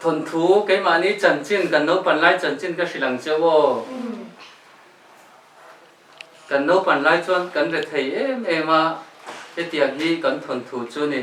Thawnthu, Keimahni chanchin kan naupan lai chanchin ka hrilh ang che aw. Kan naupan lai chuan kan re thei em em a, hetiang hi kan thawnthu chu ni.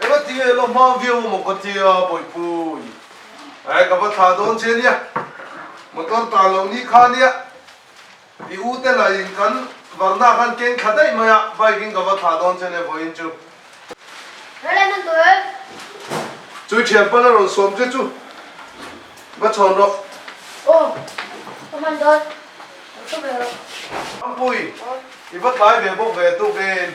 Ema ti nge lo hma viau a maw ka ti a Bawipuii eh ka va thla dawn che nia motor ta lo ni kha nia i u te la in kan varna khan keng tha daih mai a bike in ka va thla dawn che nia vawiin chu Lo la man tur Chu thian pan a rawn sawm che chu va chhawn rawh. Aw ka man dawn ka thu ve rawh. Rampuii i va tlai ve bawk ve tuk in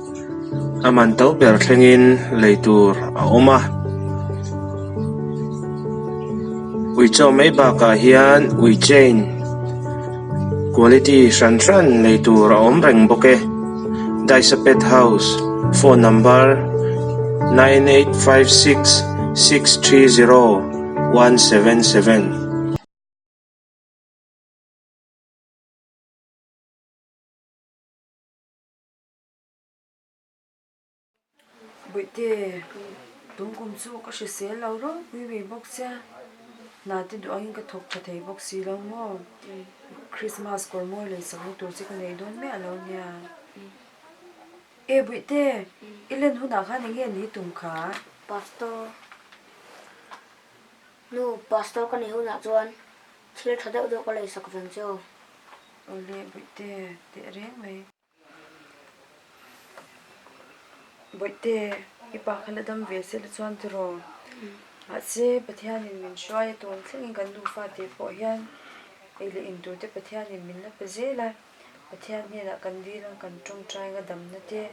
a man to ber thlengin lei tur a awm a ui chaw mai bakah hian ui chain quality hran hran nei tur a awm reng bawk e daisa pet house phone number nine eight five six six three zero one seven seven . Buaite, tungkum chu ka hre sel lo râwk pui ve bawk che, hna te duangin ka thawk tha thei bawk si lo maw? Krismas kawr mawi lei sak na tur chu ka nei dawn miah lo nia. E Buaite, i len hunah khan enge an ni tum kha? Pastor, Nu, Pastor ka nei hunah chuan thil tha deuh deuh ka lei sak vang che aw. Awle, Buaite, teh reng mai. Bawihte, i pa kha la dam ve sela chuan tiraw? Mahse, Pathianin min hruai a tuam thlengin kan nufa tih pawh hian ei leh in tute Pathianin min la pe zel a, Pathian hnenah kan dil ang, kan tawngtai ang a damna te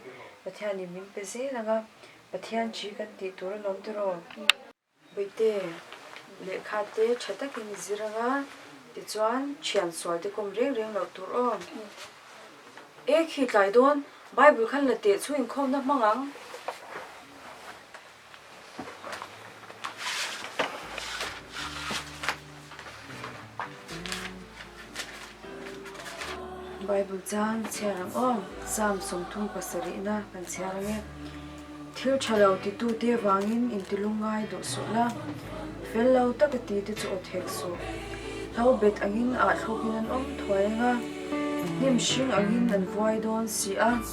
Pathianin min pe zel ang a, Pathian ṭhi kan tih tur a lawm tiraw? Bite lehkha te tha takin zir anga tichuan thian sual te kawm reng reng loh tur aw. E khi tlai dawn, Bible khan la teh chu inkhawm na hmang ang. Bible chang chhiar ang aw, Psalm sawmthum pasarihna kan chhiar ang e. Thil tha lo titu te vangin in tilung ngai duh suh la, fel lo taka ti te chu awthek suh. Hlo bet angin aa thlukin an awm thuai ang a, hnim hring angin an vuai dawn si a.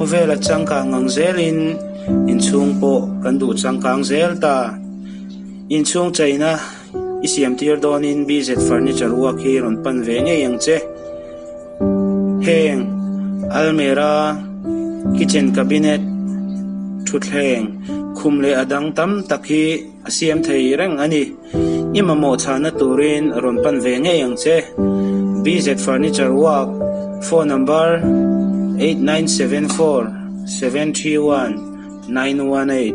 Khawvela changkang ang zelin inchhung pawh kan duh changkang zel ta. Inchhung cheina i siamtir dawnin BZ Furniture uak hi rawn pan ve ngei ang che. Heng almera, kitchen cabinet, thutthleng, khum leh a dang tam tak hi. A siam thei reng a ni. I mamawh chhahna turin rawn pan ve ngei ang che. BZ Furniture Work, phone number, eight nine seven four seven three one nine one eight.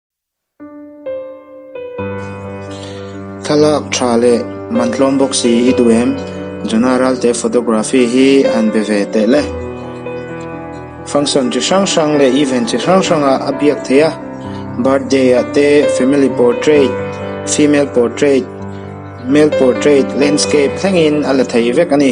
Thlalak tha leh man tlawm bawk si i duh em? Jona Ralte photography hi a han be ve tehle. Function chi hrang hrang leh event chi hrang hrang ah a biak thei a. Birthday ah te, family portrait, female portrait, male portrait, landscape thlengin a la thei vek a ni.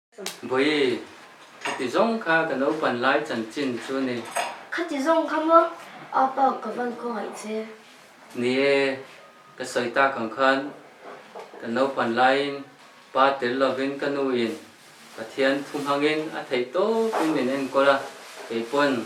Bawihi, khati zawng kha ka naupan lai chanchin chu ni. Khati zawng kha maw? Apa ka van khaw ngaih che. Ni e, ka sawi tak ang khan, ka naupan laiin pa tel lovin ka nu in Pathian thuhmangin a theih tawpin min enkawl a, keipawn.